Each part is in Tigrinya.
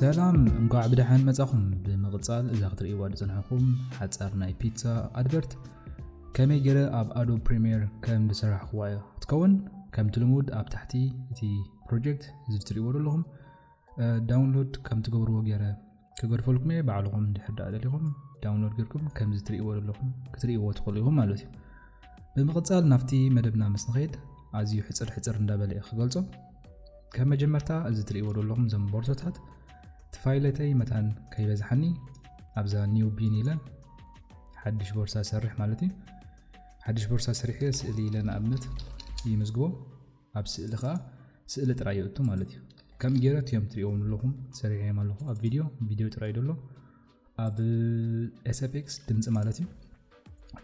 ሰላም እንኳዕ ብደሓን መጻኹም ብምቕጻል እዛ ክትርእይዋ ዝጸንሐኹም ሓጻር ናይ ፒትሳ ኣድቨርት ከመይ ገይረ ኣብ ኣዶ ፕሪምየር ከም ዝሰራሕኽዋ እዮ ክትከውን ከምቲ ልሙድ ኣብ ታሕቲ እቲ ፕሮጀክት እዚ ትርእይዎ ዘለኹም ዳውንሎድ ከም ትገብርዎ ገይረ ክገድፈልኩም እየ ባዕልኹም እንድሕር ዳኣ ደሊኹም ዳውንሎድ ጌርኩም ከምዚ ትርእይዎ ዘለኹም ክትርእይዎ ትኽእሉ ኢኹም ማለት እዩ ብምቕጻል ናብቲ መደብና ምስ ንኸይድ ኣዝዩ ሕፅር ሕፅር እንዳበለ እዩ ክገልጾ ከም መጀመርታ እዚ ትርእይዎ ዘለኹም ዘም ቦርሶታት ትፋይለተይ መታን ከይበዝሓኒ ኣብዛ ኒው ቢን ኢለ ሓድሽ ቦርሳ ሰርሕ ማለት እዩ ሓድሽ ቦርሳ ስሪሐ ስእሊ ኢለ ንኣብነት ይምዝግቦ ኣብ ስእሊ ከኣ ስእሊ ጥራይ የእቱ ማለት እዩ። ከም ጌረ ቲዮም ትሪእዎም ዘለኹም ሰሪሐዮም ኣለኹ ኣብ ቪድዮ ቪድዮ ጥራይ ደሎ ኣብ ኤስኤፍኤክስ ድምፂ ማለት እዩ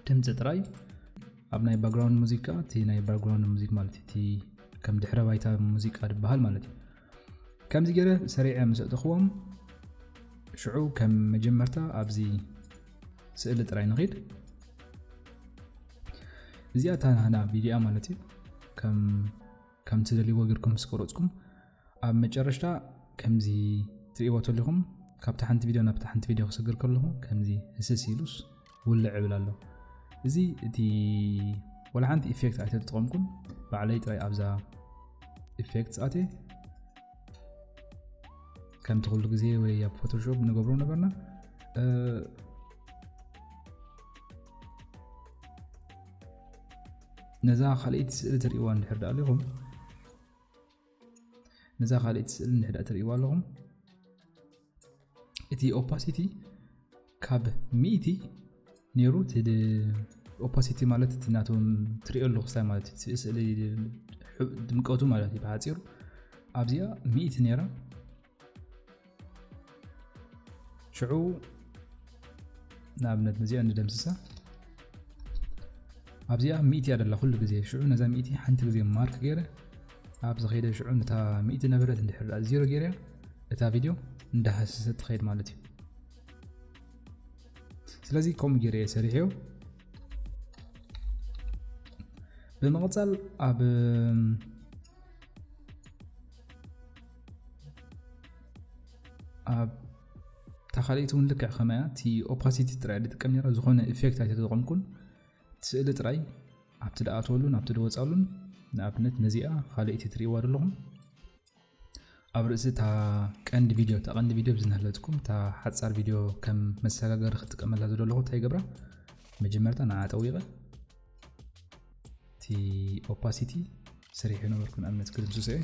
ድምፂ ጥራይ ኣብ ናይ ባክግራውንድ ሙዚቃ እቲ ናይ ባክግራውንድ ሙዚክ ማለት እቲ ከም ድሕረ ባይታ ሙዚቃ ድበሃል ማለት እዩ ከምዚ ገይረ ሰሪዐ ምስ ኣእተኽዎም ሽዑ ከም መጀመርታ ኣብዚ ስእሊ ጥራይ ንኺድ እዚኣ እታ ናህና ቪድያ ማለት እዩ ከም ከም ትደልይዎ ጌርኩም ምስ ቆረፅኩም ኣብ መጨረሽታ ከምዚ ትርእይዎ ተለኹም ካብታ ሓንቲ ቪድዮ ናብታ ሓንቲ ቪድዮ ክስግር ከለኹ ከምዚ ህስስ ኢሉስ ውልዕ እብል ኣሎ እዚ እቲ ወላ ሓንቲ ኢፌክት ኣይተተጠቐምኩም ባዕለይ ጥራይ ኣብዛ ኢፌክት ኣት ከምቲ ኩሉ ግዜ ወይ ኣብ ፎቶሾፕ ንገብሮ ነበርና ነዛ ካልኣይቲ ስእሊ ትሪእዋ እንድሕር ዳኣሊኹም ነዛ ካልእቲ ስእሊ እንድሕዳ ትርእይዋ ኣለኹም እቲ ኦፓሲቲ ካብ ሚእቲ ነይሩ ኦፓሲቲ ማለት እቲ ናቶም ትሪኦ ኣለኹ ሳይ ማለት እዩ ስእሊ ድምቀቱ ማለት እዩ ብሓፂሩ ኣብዚኣ ሚእቲ ነይራ ሽዑ ንኣብነት ነዚኣ ንደምስሳ ኣብዚኣ ሚእቲ እያ ደላ ኩሉ ግዜ ሽዑ ነዛ ሚእቲ ሓንቲ ግዜ ማርክ ገይረ ኣብ ዝኸይደ ሽዑ ነታ ሚእቲ ነበረት እንድሕር ዜሮ ገይረ እታ ቪድዮ እንዳሃሰሰ ትኸይድ ማለት እዩ ስለዚ ከምኡ ገይረ እየ ሰሪሐዮ ብምቕፃል ኣብ ኣብ ታኻሊእቲ እውን ልክዕ ከማያ እቲ ኦፓሲቲ ጥራይ ድጥቀም ነራ ዝኾነ ኢፌክት ኣይተጠቐምኩን ስእሊ ጥራይ ኣብቲ ድኣትወሉን ኣብቲ ድወፃሉን ንኣብነት ነዚኣ ካልእቲ ትርእዋ ዘለኹም ኣብ ርእሲ እታ ቀንዲ ቪድዮ እታ ቀንዲ ቪድዮ ብዝናሃለትኩም እታ ሓፃር ቪድዮ ከም መሰጋገሪ ክጥቀመላ ዝደለኹ እንታይ ይገብራ መጀመርታ ንዓ ጠዊቐ እቲ ኦፓሲቲ ስሪሑ ነበርኩ ንኣብነት ክድምስሶ እየ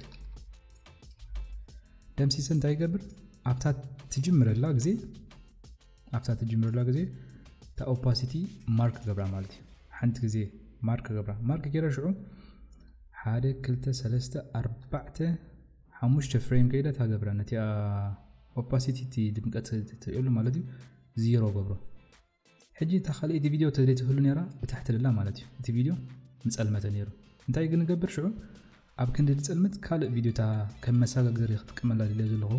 ደምሲሰ እንታይ ይገብር ኣብታ ትጅምረላ ግዜ ኣብታ ትጅምረላ ግዜ እታ ኦፓሲቲ ማርክ ገብራ ማለት እዩ ሓንቲ ግዜ ማርክ ገብራ ማርክ ገይረ ሽዑ ሓደ ክልተ ሰለስተ ኣርባዕተ ሓሙሽተ ፍሬም ከይደ እታ ገብራ ነቲ ኦፓሲቲ ድምቀት ትርእየሉ ማለት እዩ ዚሮ ገብሮ ሕጂ እታ ካልኤቲ ቪድዮ ተዘይትህሉ ነራ ብታሕቲ ደላ ማለት እዩ እቲ ቪድዮ ምጸልመተ ነሩ እንታይ ግን ገብር ሽዑ ኣብ ክንዲ ድጸልምት ካልእ ቪድዮ እታ ከም መሳጋገሪ ክጥቀመላ ድልዮ ዘለኹ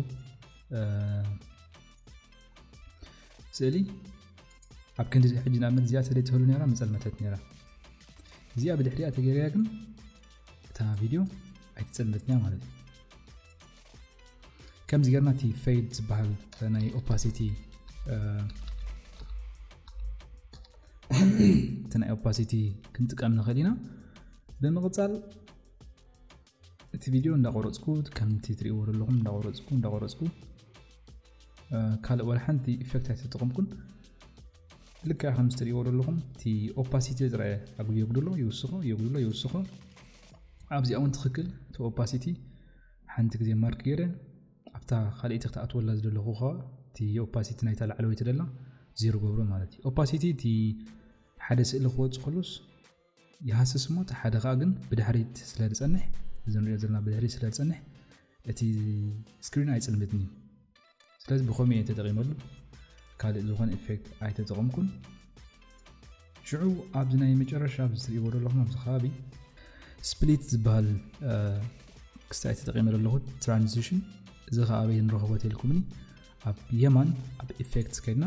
ስእሊ ኣብ ክንዲ ሕጂ ንኣብነት እዚኣ ተዘይትህሉ ነራ ምጸልመተት ነራ እዚኣ ብድሕሪኣ ተገይርያ ግን እታ ቪድዮ ኣይትጸልመትንያ ማለት እዩ ከምዚ ጌርና እቲ ፈይድ ዝበሃል ናይ ኦፓሲቲ እቲ ናይ ኦፓሲቲ ክንጥቀም ንኽእል ኢና ብምቕፃል እቲ ቪድዮ እንዳቆረፅኩ ከምቲ ትሪእዎ ዘለኹም እንዳቆረፅኩ እንዳቆረፅኩ ካልእ ወላ ሓንቲ ኢፌክት ኣይተጠቐምኩን ልክዕ ከምዚ ትርእይዎ ዘለኹም እቲ ኦፓሲቲ ዝረአ ኣጉል የጉድሎ ይውስኾ የጉድሎ ይውስኾ ኣብዚኣ እውን ትኽክል እቲ ኦፓሲቲ ሓንቲ ግዜ ማርክ ገይረ ኣብታ ካልእቲ ክትኣትወላ ዝደለኹ ከዓ እቲ ኦፓሲቲ ናይታ ላዕለወይቲ ደላ ዜሮ ገብሮ ማለት እዩ ኦፓሲቲ እቲ ሓደ ስእሊ ክወፅ ከሎስ ይሃስስ እሞ እቲ ሓደ ከኣ ግን ብድሕሪት ስለ ዝጸንሕ እዚ ንሪኦ ዘለና ብድሕሪት ስለ ዝጸንሕ እቲ ስክሪን ኣይጽልምትን እዩ ስለዚ ብኸምኡ እየ ተጠቒመሉ ካልእ ዝኾነ ኢፌክት ኣይተጠቐምኩን ሽዑ ኣብዚ ናይ መጨረሻ ኣብዚ ትርእይዎ ዘለኹም ኣብዚ ከባቢ ስፕሊት ዝበሃል ክስታይ ተጠቒመ ዘለኹ ትራንዚሽን እዚ ከዓ ኣበይ ንረኽቦ ተልኩምኒ ኣብ የማን ኣብ ኢፌክትስ ከድና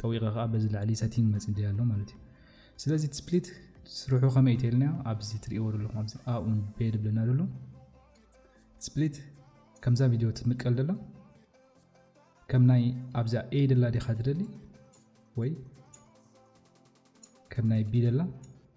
ጠዊቐ ከኣ በዚ ላዕሊ ሰቲንግ መጺ ደይ ኣሎ ማለት እዩ ስለዚ እቲ ስፕሊት ስርሑ ከመይ እተልና ኣብዚ ትርእይዎ ዘለኹም ኣብዚ ኣኡን ቤ ድብለና ዘሎ ስፕሊት ከምዛ ቪድዮ ትምቀል ደላ ከም ናይ ኣብዛ ኤ ደላ ዲኻ ትደሊ ወይ ከም ናይ ቢ ደላ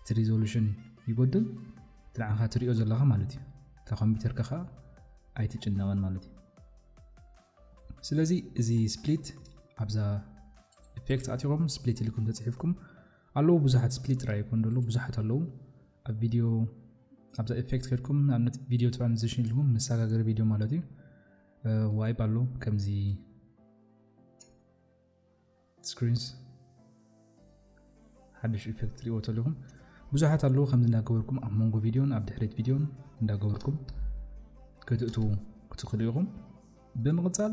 እቲ ሪዞሉሽን ይጎድል እቲ ንዓኻ ትሪኦ ዘለኻ ማለት እዩ እታ ኮምፒውተርካ ከዓ ኣይትጭነቕን ማለት እዩ ስለዚ እዚ ስፕሊት ኣብዛ ኢፌክት ኣትኹም ስፕሊት ኢልኩም ተፅሒፍኩም ኣለዉ ብዙሓት ስፕሊት ጥራይ ይኮን ደሎ ብዙሓት ኣለዉ ኣብ ቪድዮ ኣብዛ ኢፌክት ከድኩም ንኣብነት ቪድዮ ትራንዚሽን ኢልኩም መሰጋገሪ ቪድዮ ማለት እዩ ዋይብ ኣሎ ከምዚ ስክሪንስ ሓድሽ ኢፌክት ትሪእዎ ተለኹም ብዙሓት ኣለዉ ከምዚ እንዳገበርኩም ኣብ መንጎ ቪድዮን ኣብ ድሕሪት ቪድዮን እንዳገበርኩም ክትእትዉ ክትኽእሉ ኢኹም ብምቕፃል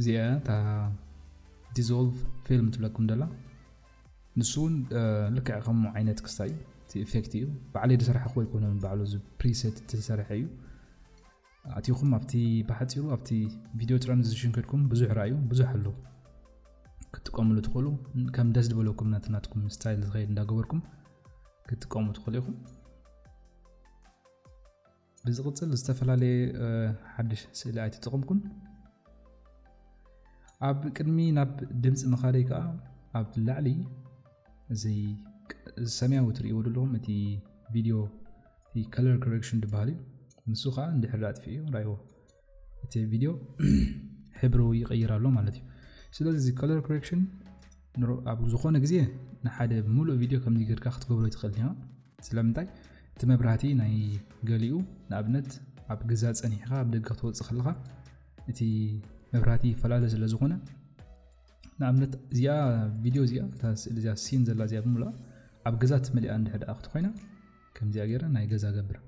እዚኣ እታ ዲዞልቭ ፊልም ትብለኩም ደላ ንሱ እውን ልክዕ ከምኡ ዓይነት ክስታ እዩ እቲ ኢፌክት እዩ ባዕለይ ዝሰራሕኹ ኣይኮነን ባዕሉ እዚ ፕሪሰት ዝተሰርሐ እዩ ኣትኹም ኣብቲ ብሓፂሩ ኣብቲ ቪድዮ ትራንዚሽን ከድኩም ብዙሕ ርኣዩ ብዙሕ ኣሎ ክትጥቀምሉ ትኽእሉ ከም ደስ ዝበለኩም ናትናትኩም ስታይል ዝኸይድ እንዳገበርኩም ክትጥቀሙ ትኽእሉ ኢኹም ብዝቕፅል ዝተፈላለየ ሓድሽ ስእሊ ኣይተጠቐምኩን። ኣብ ቅድሚ ናብ ድምፂ ምኻደይ ከዓ ኣብ ላዕሊ እዚ ሰማያዊ ትርእይዎ ዘለኹም እቲ ቪድዮ ከለር ኮሬክሽን ዝበሃል እዩ ንሱ ከዓ እንድሕር ኣጥፊኡ ራይዎ እቲ ቪድዮ ሕብሩ ይቀይር ኣሎ ማለት እዩ ስለዚ እዚ ከለር ኮሬክሽን ኣብ ዝኾነ ግዜ ንሓደ ሙሉእ ቪድዮ ከምዚ ጌርካ ክትገብሮ ይትኽእል ኢና ስለምንታይ እቲ መብራህቲ ናይ ገሊኡ ንኣብነት ኣብ ገዛ ፀኒሕኻ ኣብ ደገ ክትወፅእ ከለኻ እቲ መብራህቲ ይፈላለ ስለ ዝኾነ ንኣብነት እዚኣ ቪድዮ እዚኣ እታ ስእሊ እዚኣ ሲን ዘላ እዚኣ ብምሉኣ ኣብ ገዛ ትመሊኣ እንድሕር ደኣ ክትኮይና ከምዚኣ ገይረ ናይ ገዛ ገብር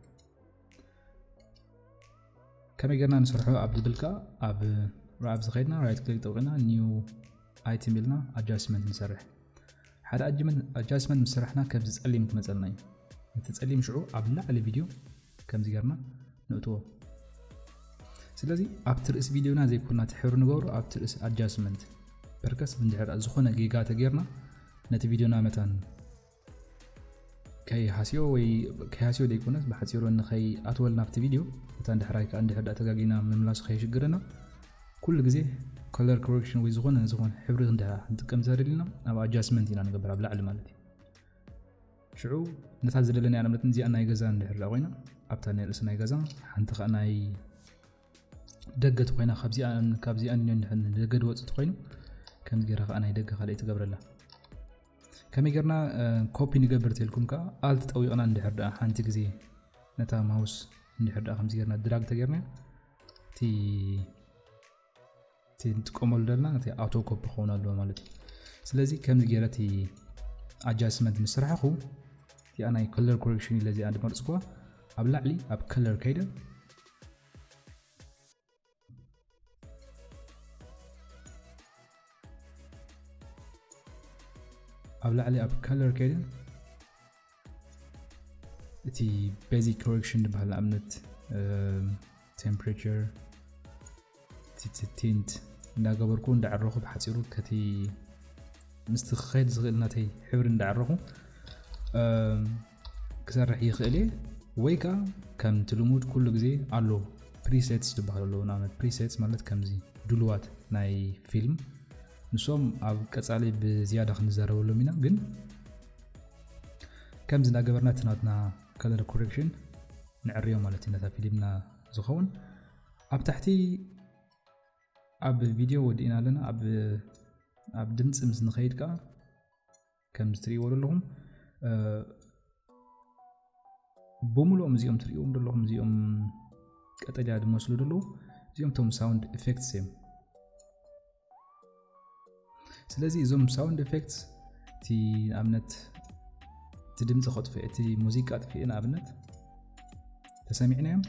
ከመይ ጌርና ንስርሖ ኣብ ዝብል ከዓ ኣብ ራብ ዝኸድና ራይት ክሊክ ጠውቂና ኒው ኣይትም ኢልና ኣጃስትመንት ንሰርሕ ሓደ ኣጃስትመንት ምስ ስራሕና ከምዚ ጸሊም ክመፀልና እዩ ነቲ ጸሊም ሽዑ ኣብ ላዕሊ ቪድዮ ከምዚ ጌርና ንእትዎ ስለዚ ኣብቲ ርእሲ ቪድዮና ዘይኮና እቲ ሕብሪ ንገብሮ ኣብቲ ርእሲ ኣጃስትመንት ፐርከስ እንድሕር ዝኾነ ጌጋ ተጌርና ነቲ ቪድዮና መታን ከይ ሃስዮ ወይ ከይ ሃስዮ ደይኮነስ ብሓጺሩ ንኸይ ኣትወል ናብቲ ቪድዮ እታ እንድሕራይ ከኣ እንድሕር ደኣ ተጋጊና ምምላሱ ከየሽግረና ኩሉ ግዜ ኮለር ኮረክሽን ወይ ዝኾነ ዝኾነ ሕብሪ ክንድሕር ክንጥቀም ዘደልና ኣብ ኣጃስመንት ኢና ንገብር ኣብ ላዕሊ ማለት እዩ ሽዑ ነታ ዝደለናያ ንኣብነት እዚኣ ናይ ገዛ እንድሕር ደኣ ኮይና ኣብታ ናይ ርእሲ ናይ ገዛ ሓንቲ ከዓ ናይ ደገት ኮይና ካብዚኣን ካብዚኣን ደገ ድወፅእ ኮይኑ ከምዚ ገይራ ከዓ ናይ ደገ ካልእ ትገብረላ ከመይ ጌርና ኮፒ ንገብር ተልኩም ከዓ ኣልት ጠዊቕና እንድሕር ድኣ ሓንቲ ግዜ ነታ ማውስ እንድሕር ድኣ ከምዚ ጌርና ድራግ ተጌርና እቲ እቲ ንጥቀመሉ ዘለና እቲ ኣውቶ ኮፒ ክኸውን ኣለዎ ማለት እዩ ስለዚ ከምዚ ጌረ እቲ ኣጃስትመንት ምስ ስራሕኹ እቲኣ ናይ ከለር ኮሬክሽን ኢለ እዚኣ ድመርፅኩዋ ኣብ ላዕሊ ኣብ ከለር ከይደ ኣብ ላዕሊ ኣብ ከለር ከይድን እቲ ቤዚክ ኮሬክሽን ዝበሃል ንኣብነት ቴምፕሬቸር ቲንት እንዳገበርኩ እንዳዕረኹ ብሓፂሩ ከቲ ምስቲ ክኸይድ ዝኽእል ናተይ ሕብሪ እንዳዕረኹ ክሰርሕ ይኽእል እየ ወይ ከዓ ከምቲ ልሙድ ኩሉ ግዜ ኣሎ ፕሪሴትስ ዝበሃሉ ኣለዉ ንኣብነት ፕሪሴትስ ማለት ከምዚ ድልዋት ናይ ፊልም ንሶም ኣብ ቀፃሊ ብዝያዳ ክንዘረበሎም ኢና ግን ከምዚ እናገበርና እቲ ናትና ከለር ኮሬክሽን ንዕርዮ ማለት እዩ ነታ ፊልምና ዝኸውን ኣብ ታሕቲ ኣብ ቪድዮ ወዲእና ኣለና ኣብ ድምፂ ምስ ንኸይድ ከዓ ከምዚ ትርእይዎ ዘለኹም ብምሉኦም እዚኦም ትርእዎም ዘለኹም እዚኦም ቀጠልያ ዝመስሉ ዘለዉ እዚኦም ቶም ሳውንድ ኤፌክትስ እዮም ስለዚ እዞም ሳውንድ ኤፌክትስ እቲ ንኣብነት እቲ ድምፂ ከጥፍእ እቲ ሙዚቃ ጥፍኤ ንኣብነት ተሰሚዕናዮም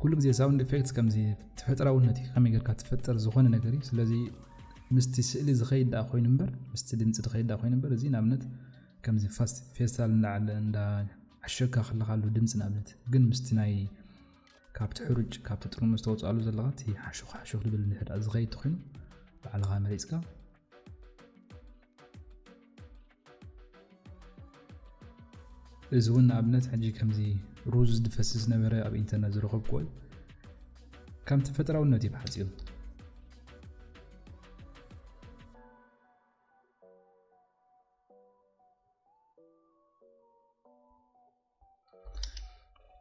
ኩሉ ግዜ ሳውንድ ኢፌክትስ ከምዚ ተፈጥራውነት እዩ ከመይ ጌርካ ትፈጥር ዝኾነ ነገር እዩ ስለዚ ምስቲ ስእሊ ዝኸይድ ደኣ ኮይኑ እምበር ምስቲ ድምፂ ዝኸይድ ደኣ ኮይኑ እምበር እዚ ንኣብነት ከምዚ ፌስታል እንዳዓለ እንዳ ዓሸካ ከለካ ኣሎ ድምፂ ንኣብነት ግን ምስቲ ናይ ካብቲ ሕሩጭ ካብቲ ጥርሙዝ ተወፅኣሉ ዘለካ እቲ ሓሹኽ ሓሹኽ ዝብል ንሕዳ ዝኸይድ ተኮይኑ ባዕልኻ መሪፅካ እዚ እውን ንኣብነት ሕጂ ከምዚ ሩዝ ዝድፈስ ዝነበረ ኣብ ኢንተርነት ዝረኸብክዎ እዩ ከም ተፈጥራውነት እዩ ብሓፂሩ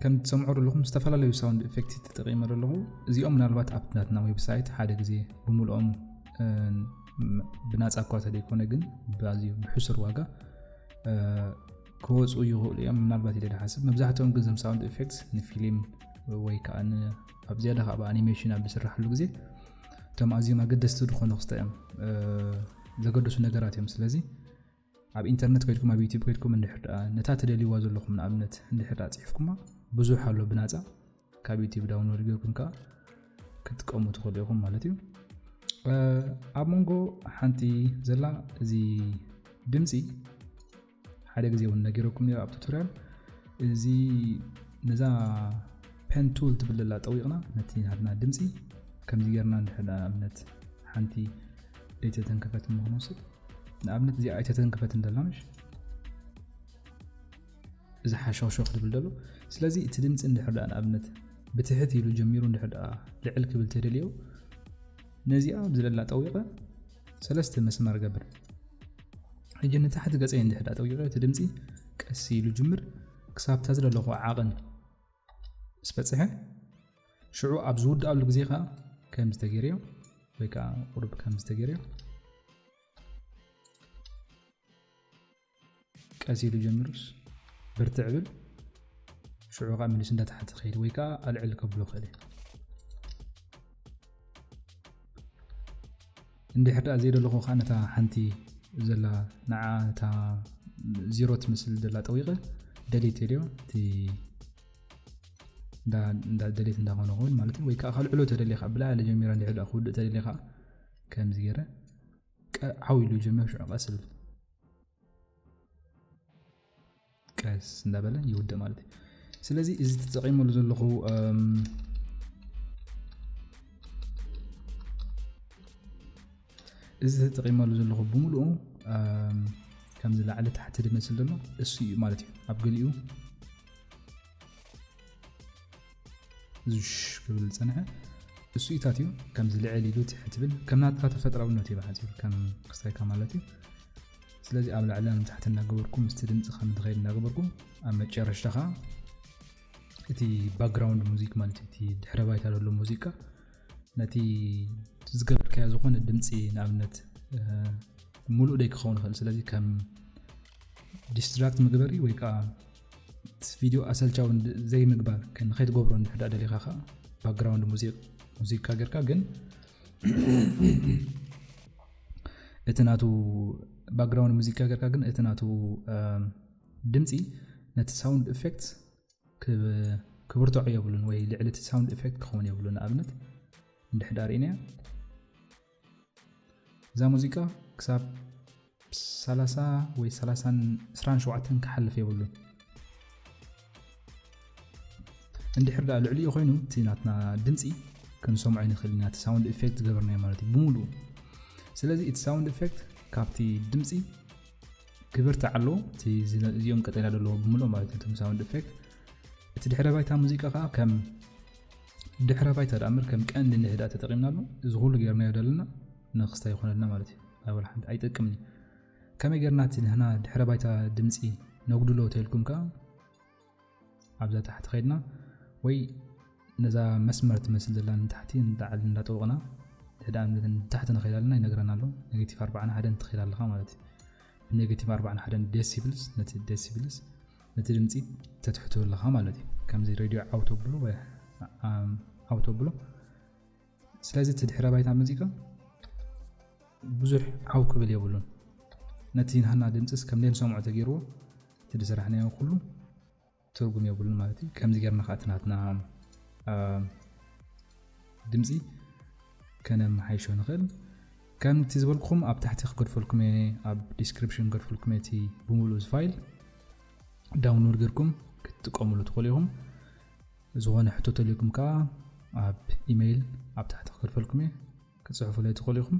ከም ትሰምዑ ዘለኹም ዝተፈላለዩ ሳውንድ ኤፌክት ተጠቂመ ዘለኹ እዚኦም ምናልባት ኣብ ናትና ዌብሳይት ሓደ ግዜ ብምልኦም ብናፃ እኳ ተደይኮነ ግን ብኣዝዩ ብሕሱር ዋጋ ክወፁ ይኽእሉ እዮም ምናልባት ኢለ ድሓስብ መብዛሕትኦም ግን ዘም ሳውንድ ኤፌክት ንፊልም ወይ ከዓ ኣብ ዝያዳ ከዓ ብኣኒሜሽን ኣብ ዝስራሕሉ ግዜ እቶም ኣዝዮም ኣገደስቲ ዝኾኑ ክስተ እዮም ዘገደሱ ነገራት እዮም ስለዚ ኣብ ኢንተርነት ከድኩም ኣብ ዩቲብ ከድኩም እንድሕር ደኣ ነታ ትደልይዋ ዘለኹም ንኣብነት እንድሕር ደኣ ጽሒፍኩማ ብዙሕ ኣሎ ብናጻ ካብ ዩቲብ ዳውንሎድ ገርኩም ከዓ ክትቀሙ ትኽእሉ ኢኹም ማለት እዩ ኣብ መንጎ ሓንቲ ዘላ እዚ ድምፂ ሓደ ግዜ እውን ነገረኩም ኣብ ቱቶርያል እዚ ነዛ ፐን ቱል ትብለላ ጠዊቕና ነቲ ናትና ድምፂ ከምዚ ጌርና ንሕዳ ኣብነት ሓንቲ ኣይተተንከፈት እሞ ክንወስድ ንኣብነት እዚኣ ኣይተተንከፈት እንደላ ምሽ እዚ ሓሸኽሸኽ ዝብል ደሎ ስለዚ እቲ ድምፂ እንድሕር ደኣ ንኣብነት ብትሕት ኢሉ ጀሚሩ እንድሕር ደኣ ልዕል ክብል ተደልዮ ነዚኣ ብዝለላ ጠዊቐ ሰለስተ መስመር ገብር ሕጂ ንታሕቲ ገፀይ እንድሕር ደኣ ጠዊቐ እቲ ድምፂ ቀስ ኢሉ ጅምር ክሳብታ ዝደለኹ ዓቕን ምስ በፅሐ ሽዑ ኣብ ዝውድኣሉ ግዜ ከዓ ከም ዝተገርዮ ወይ ከዓ ቁርብ ከም ዝተገርዮ ቀስ ኢሉ ጀሚሩስ ብርትዕ ብል ሽዑ ከዓ መሊሱ እንዳታሕቲ ክኸይድ ወይ ከዓ ኣልዕል ከብሎ ክእል እንድሕር ድኣ ዘይደለኹ ከኣ ነታ ሓንቲ ዘላ ንዓ እታ ዚሮ ትመስል ዘላ ጠዊቐ ደሊት የድዮ እቲ እንዳ ደሊት እንዳኾነ ኸውን ማለት እዩ ወይ ከዓ ካልዕሎ ተደልየ ከዓ ብላዕሊ ጀሚራ እንድሕር ድኣ ክውድእ ተደልየ ከዓ ከምዚ ገይረ ዓው ኢሉ ጀመር ሽዑ ቀስ ብል ቀስ እንዳበለ ይውድእ ማለት እዩ ስለዚ እዚ ተጠቂመሉ ዘለኹ እዚ ተጠቂመሉ ዘለኹ ብምሉኡ ከምዚ ላዕሊ ታሕቲ ድመስል ዘሎ እሱ እዩ ማለት እዩ ኣብ ገሊኡ ዙሽ ክብል ዝጸንሐ እሱ ኢታት እዩ ከምዚ ልዕል ኢሉ ትሕ ትብል ከም ናትካ ተፈጥራውነት እዩ ብሓፂሩ ከም ክስታይካ ማለት እዩ ስለዚ ኣብ ላዕለ ንታሕቲ እናገበርኩ ምስቲ ድምፂ ከም ዝኸይድ እናገበርኩ ኣብ መጨረሽታ ከዓ እቲ ባክግራውንድ ሙዚክ ማለት እዩ እቲ ድሕረ ባይታ ዘሎ ሙዚቃ ነቲ ዝገበርካዮ ዝኾነ ድምፂ ንኣብነት ሙሉእ ደይ ክኸውን ይኽእል ስለዚ ከም ዲስትራክት ምግበሪ ወይ ከዓ ቪድዮ ኣሰልቻዊ ዘይምግባር ንከይትገብሮ እንድሕር ደሊኻ ከዓ ባክግራውንድ ሙዚቃ ጌርካ ግን እቲ ናቱ ባክግራውንድ ሙዚቃ ጌርካ ግን እቲ ናቱ ድምፂ ነቲ ሳውንድ ኤፌክት ክብርትዖ የብሉን ወይ ልዕሊ እቲ ሳውንድ ኤፌክት ክኸውን የብሉን ንኣብነት እንድሕዳ ርእናያ እዛ ሙዚቃ ክሳብ 30 ወይ 27 ክሓልፍ የብሉን እንድሕር ዳ ልዕሊኡ ኮይኑ እቲ ናትና ድምፂ ክንሰምዖ ንኽእል ኢና እቲ ሳውንድ ኢፌክት ዝገበርናዮ ማለት እዩ ብምሉኡ ስለዚ እቲ ሳውንድ ኢፌክት ካብቲ ድምፂ ክብርቲ ኣሎ እቲ እዚኦም ቀጠላ ዘለዎ ብምሉእ ማለት እዩ ሳውንድ ኢፌክት እቲ ድሕረ ባይታ ሙዚቃ ከዓ ከም ድሕረ ባይታ ደኣምበር ከም ቀንዲ ንህድኣ ተጠቒምናሉ እዚ ኩሉ ጌርናዮ ደለና ንክስታይ ይኾነልና ማለት እዩ ኣይ ወላ ሓንቲ ኣይጠቅምን እዩ ከመይ ጌርና እቲ ንሕና ድሕረ ባይታ ድምፂ ነጉድሎ ተልኩም ከዓ ኣብዛ ታሕቲ ከድና ወይ ነዛ መስመር ትመስል ዘላ ንታሕቲ ንጣዕሊ እንዳጠወቕና ድሕዳ ንታሕቲ ንኸይድ ኣለና ይነግረና ኣሎ ኔጌቲቭ ኣርባዕና ሓደን ትኸይድ ኣለኻ ማለት እዩ ብኔጌቲቭ ኣርባዕና ሓደን ደሲብልስ ነቲ ደሲብልስ ነቲ ድምፂ ተትሕቱ ኣለኻ ማለት እዩ ከምዚ ሬድዮ ዓውተብሎ ዓውተብሎ ስለዚ እቲ ድሕረ ባይታ ሙዚቃ ብዙሕ ዓው ክብል የብሉን ነቲ ናህና ድምፅስ ከም ዘይንሰምዖ ተገይርዎ እቲ ድስራሕናዮ ኩሉ ትርጉም የብሉን ማለት እዩ ከምዚ ገርና ከዓ እቲ ናትና ድምጺ ከነመሓይሾ ንኽእል። ከምቲ ዝበልኩኹም ኣብ ታሕቲ ክገድፈልኩም እየ ኣብ ዲስክሪፕሽን ክገድፈልኩም እየ እቲ ብምሉእ እዚ ፋይል ዳውንሎድ ጌርኩም ክትጥቀምሉ ትኽእሉ ኢኹም። ዝኾነ ሕቶ ተልዩኩም ከዓ ኣብ ኢመይል ኣብ ታሕቲ ክገድፈልኩም እየ ክትፅሕፉለይ ትኽእሉ ኢኹም።